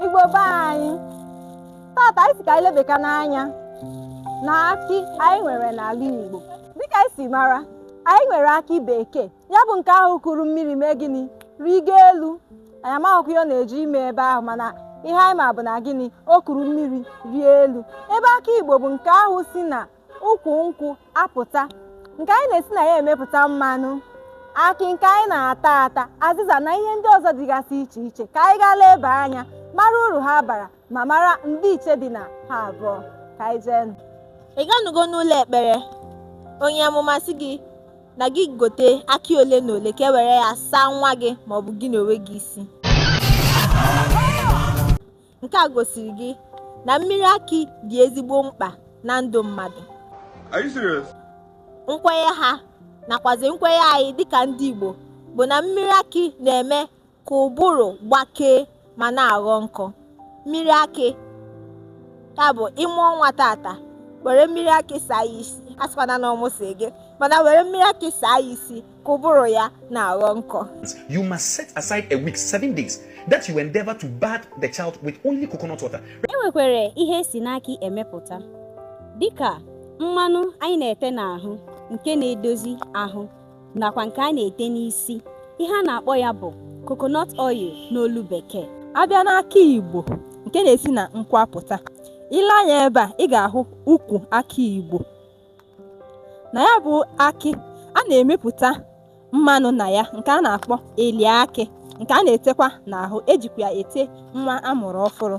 Igbo be anyị tata anyị sị ka anyị lebeka n'anya na akị anyị nwere n'ala Igbo dịka anyị si mara anyị nwere akị bekee ya bụ nke ahụ kuru mmiri mee gịnị rigo elu anyị amaghịkwa ihe ọ na-eje ime ebe ahụ mana ihe anyị ma bụ na gịnị o kuru mmiri rịa elu ebe akị igbo bụ nke ahụ si na ukwu nkwụ apụta nke anyị na-esi na ya emepụta mmanụ akị nke anyị na-ata ata azịza na ihe ndị ọzọ dịgasị iche iche ka anyị gaa leba anya mara uru ha bara ma mara ndịiche dị na ha abụọ ka anyị jee nụ. ị ganugo n'ụlọ ekpere onye amụma sị gị na gị gote akị ole na ole ka e were ya saa nwa gị maọbụ gị n'onwe gị isi nke a gosiri gị na mmiri akị dị ezigbo mkpa na ndụ mmadụ nkwenye ha nakwazi nkwenye anyị dịka ndị Igbo bụ na mmiri akị na-eme ka ụbụrụ gbakee ma na-aghọ nkọ mmiri akị ya bụ ị mụọ nwa tata were mmiri akị saa ya isi a sịkwana na ọ mụsị gị mana were mmiri akị saa ya isi ka ụbụrụ ya na-aghọ nkọ you must set aside a week seven days that you endeavor to bath the child with only coconut water. e nwekwara ihe e si n'akị emepụta dịka mmanụ anyị na-ete n'ahụ nke na-edozi ahụ nakwa nke a na-ete n'isi ihe a na-akpọ ya bụ coconut oil n'olu bekee a bịa n'akị igbo nke na-esi na nkwụ apụta i lee anya ebe a ị ga-ahụ ukwu akị igbo na ya bụ akị a na-emepụta mmanụ na ya nke a na-akpọ eli akị nke a na-etekwa n'ahụ e jikwa ya ete nwa a mụrụ ọfụrụ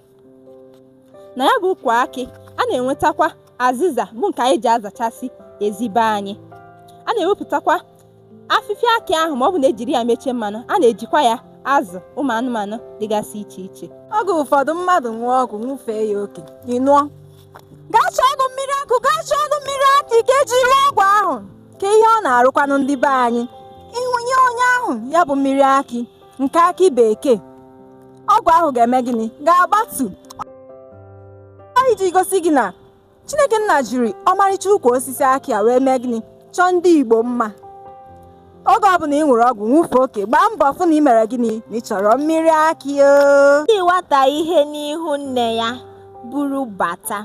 na ya bụ ukwu akị a na-enwetakwa azịza bụ nke anyị ji azachasị ezi be anyị a na-ewepụtakwa afịfịa akị ahụ ma ọ bụ na e jiri ya mechaa mmanụ a na-ejikwa ya azụ ụmụ anụmanụ dịgasị iche iche oge ụfọdụ mmadụ ṅụọ ọgwụ ṅụfee ya oke ị nụọ gaa chọọnụ mmiri akụ gaa chọọnụ mmiri akị ka e ji rụọ ọgwụ ahụ ka ihe ọ na-arụkwanụ ndị be anyị ị wụnye onye ahụ ya bụ mmiri akị nke akị bekee ọgwụ ahụ ga-eme gịnị ga-agbatu iji gosi gị na Chineke nna jiri ọmarịcha ukwu osisi akị a wee mee gịnị chọọ ndị Igbo mma oge ọbụla ị ṅụrụ ọgwụ ṅụfe oke gbaa mbọ fụ na ị mere gịnị na ị chọrọ mmiri akị o ti nwata ihe n'ihu nne ya buru bata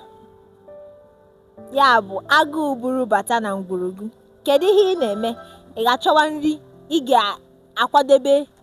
ya bụ agụụ buru bata na ngwuru gị kedu ihe ị na-eme ị ga-achọwa nri ị ga-akwadebe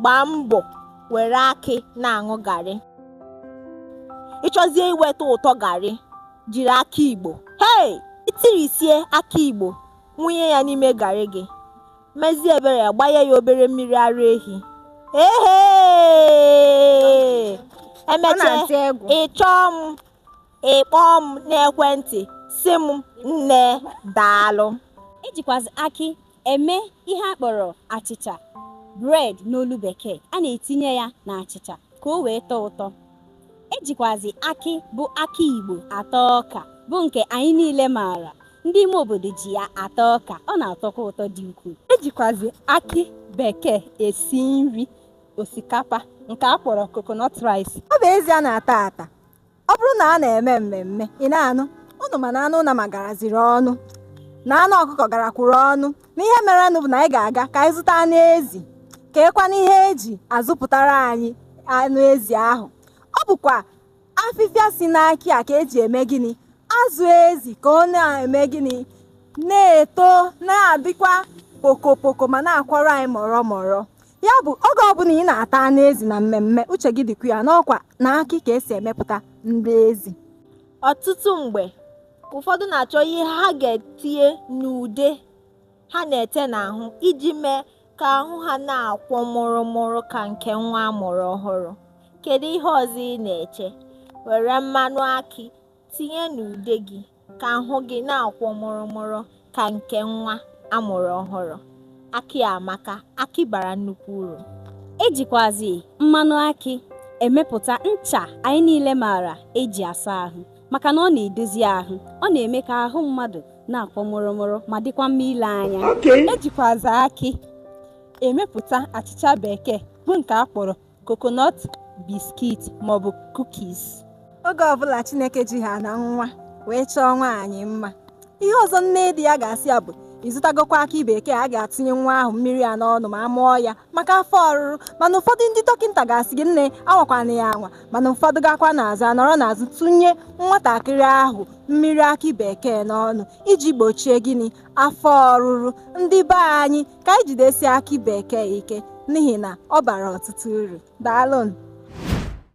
gbaa mbọ were akị na-aṅụ garị ị chọzie iweta ụtọ garị jiri akị igbo hei i tirisie akị igbo wụnye ya n'ime garị gị mezie ebere ya gbanye ya obere mmiri ara ehi ehe e mechaa ị chọọ m ị kpọọ m n'ekwentị sị m nne daalụ e jikwazi akị eme ihe a kpọrọ achịcha bread n'olu bekee a na-etinye ya na achịcha ka o wee tọọ ụtọ e jikwazi akị bụ akị igbo ata ọka bụ nke anyị niile maara ndị ime obodo ji ya ata ọka ọ na-atọkwa ụtọ dị ukwuu e jikwazi akị bekee esi nri osikapa nke a kpọrọ coconut rice ọ bụ ezi a na-ata ata ọ bụrụ na a na-eme mmemme ị na-anụ ụnụ ma na anụ nama garaziri ọnụ na anụ ọkụkọ garakwuru ọnụ na ihe merenụ bụ na anyị ga-aga ka anyị zụta anụ ezi kee kwanụ ihe e ji azụpụtara anyị anụ ezi ahụ ọ bụkwa afịfịa si n'akị a ka e ji eme gịnị azụ ezi ka ọ na-eme gịnị na-eto na-adịkwa pokopoko ma na-akwọra anyị mụrụmụrụ Ya bụ oge ọbụla ị na-ata anụ ezi na mmemme uche gị dịkwa ya na ọkwa n'akị ka e si emepụta nri ezi. Ọtụtụ mgbe, ụfọdụ na-achọ ihe ha ga-etinye n'ude ha na-ete n'ahụ iji mee ka ahụ ha na-akwọ mụrụmụrụ ka nke nwa a mụrụ ọhụrụ. Kedu ihe ọzọ ị na-eche? Were mmanụ akị Tinye n'ude gị ka ahụ gị na-akwọ mụrụmụrụ ka nke nwa a mụrụ ọhụrụ. Akị amaka, akị bara nnukwu uru. E jikwazi mmanụ akị emepụta ncha anyị niile maara e ji asa ahụ maka na ọ na-edozi ahụ, ọ na-eme ka ahụ mmadụ na-akwọ mụrụmụrụ ma dịkwa mma ile anya. E jikwazi akị emepụta achịcha bekee bụ nke a kpọrọ coconut biscuit maọbụ cookies oge ọbụla chineke ji ha na nwa wee chọọ nwaanyị mma ihe ọzọ nne di ya ga-asị ya bụ ị zụtagokwa akị bekee a ga-atụnye nwa ahụ mmiri a n'ọnụ ma a mụọ ya maka afọ ọrụrụ mana ụfọdụ ndị dọkịta ga-asị gị nne anwakwana ya anwa mana ụfọdụ gakwa n'azụ anọrọ n'azụ tụnye nwatakịrị ahụ mmiri akị bekee n'ọnụ iji gbochie gịnị afọ ọrụrụ ndị be anyị ka anyị jidesie akị bekee ike n'ihi na ọ bara ọtụtụ uru. Daalụnụ.